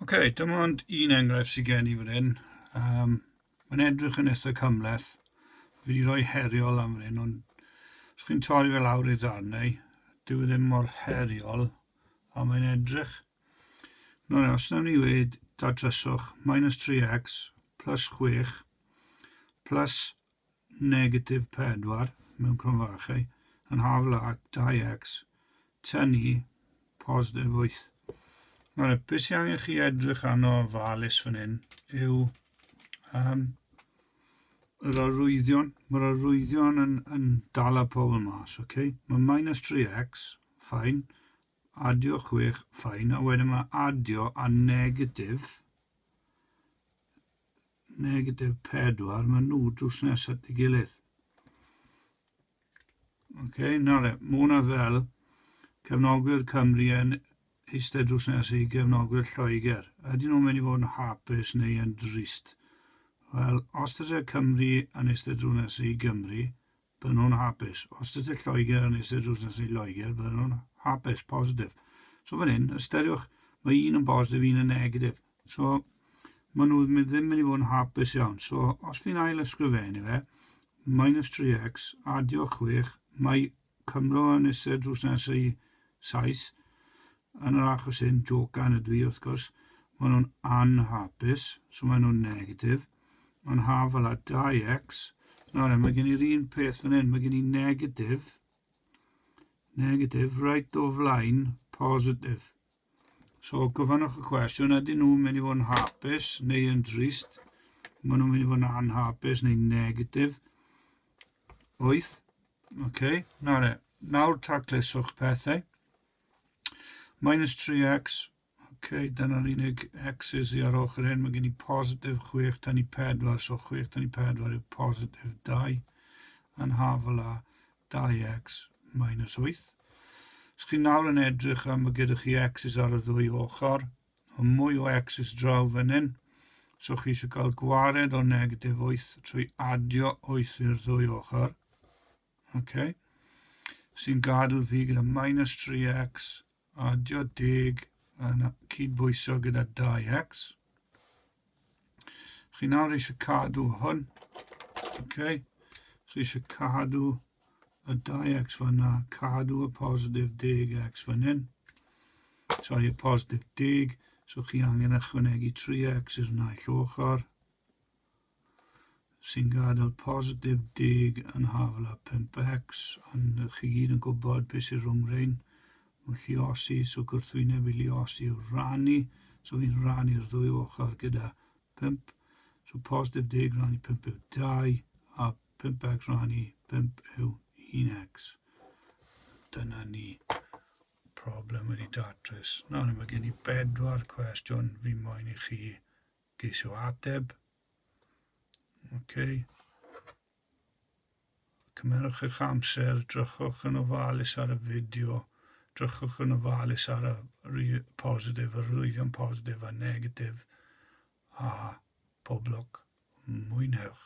OK, dim ond un enghraifft sydd gen i fan hyn. Um, mae'n edrych yn eitha cymleth. Fi wedi rhoi heriol am fan hyn, ond os chi'n torri fel awr ei ddarnau, dyw e ddim mor heriol a mae'n edrych. No, no, os nawn ni wedi datryswch minus 3x plus 6 plus negatif 4 mewn cromfachu yn hafl ac 2x tynnu positif 8. Nawr, y beth sy'n angen chi edrych arno falus fan hyn yw um, yr arwyddion. Mae'r arwyddion yn, yn dal y pobl mas, oce? Okay? Mae minus 3x, ffain, adio chwech fine a wedyn mae adio a negatif negatif pedwar mae nhw drws nes at ei gilydd ok nawr le mae hwnna fel cefnogwyr Cymru yn eistedd drws nes i gefnogwyr Lloegr ydyn nhw'n mynd i fod yn hapus neu yn drist wel os dyse Cymru yn eistedd drws nes i Gymru Bydden nhw'n hapus. Os ydych chi'n Lloegr a wnes i'r drws nesaf i Loegr, bydden nhw'n hapus, positif. So fan hyn, ystyriwch, mae un yn positif, un yn negatif. So, maen nhw ddim yn mynd i fod yn hapus iawn. So, os fi'n ail ysgrifennu fe, minus 3x, adio 6, mae Cymro yn eisiau drws nesaf i Sais, Yn yr achos hyn, jocan ydw i, wrth gwrs, maen nhw'n anhapus, so maen nhw'n negatif. Mae'n haf ala 2x. Nawr e, mae gen i'r un peth fan hyn, mae gen i negatif, negatif, right o flaen, positif. So, gofynnwch y cwestiwn, ydyn nhw'n mynd i fod yn hapus neu yn drist? Maen nhw'n mynd i fod yn anhapus neu negatif. 8. OK, nawr e, nawr tacluswch pethau. Minus 3x, ok, dyna'r unig x's i ar ochr hyn, mae gen i positif 6 tan i 4, so 6 tan i 4 yw positif 2, yn hafel a 2x minus 8. Os chi nawr yn edrych am y gyda chi x's ar y ddwy ochr, a mwy o x's draw fan hyn, so chi eisiau cael gwared o negatif 8 trwy adio 8 i'r ddwy ochr, Okay. Sy'n gadw fi gyda minus 3x, adio deg yn cydbwyso gyda 2x. Chi nawr eisiau cadw hwn. Okay. Chi eisiau cadw y 2x fyna, cadw y positif 10x fan hyn. Sorry, y positif 10, so chi angen ychwanegu 3x i'r naill ochr. sy'n gadael positif deg yn hafal a pump ecs, ond chi i gyd yn gwybod beth sydd rhwng rhain. Mae lliosi, so gwrthwyneb i lliosi yw rhannu, so fi'n rhannu'r ddwy ochr gyda pump. So positif deg rhannu pump yw dau, a pump ecs rhannu pump yw un ecs. Dyna ni problem wedi datrys. Nawr, mae gen i bedwar cwestiwn fi moyn i chi Geisio ateb. OK. Cymerwch eich amser, drychwch yn ofalus ar y fideo, drychwch yn ofalus ar y positif, y rwyddion positif a negatif, a pob lwc, mwynhewch.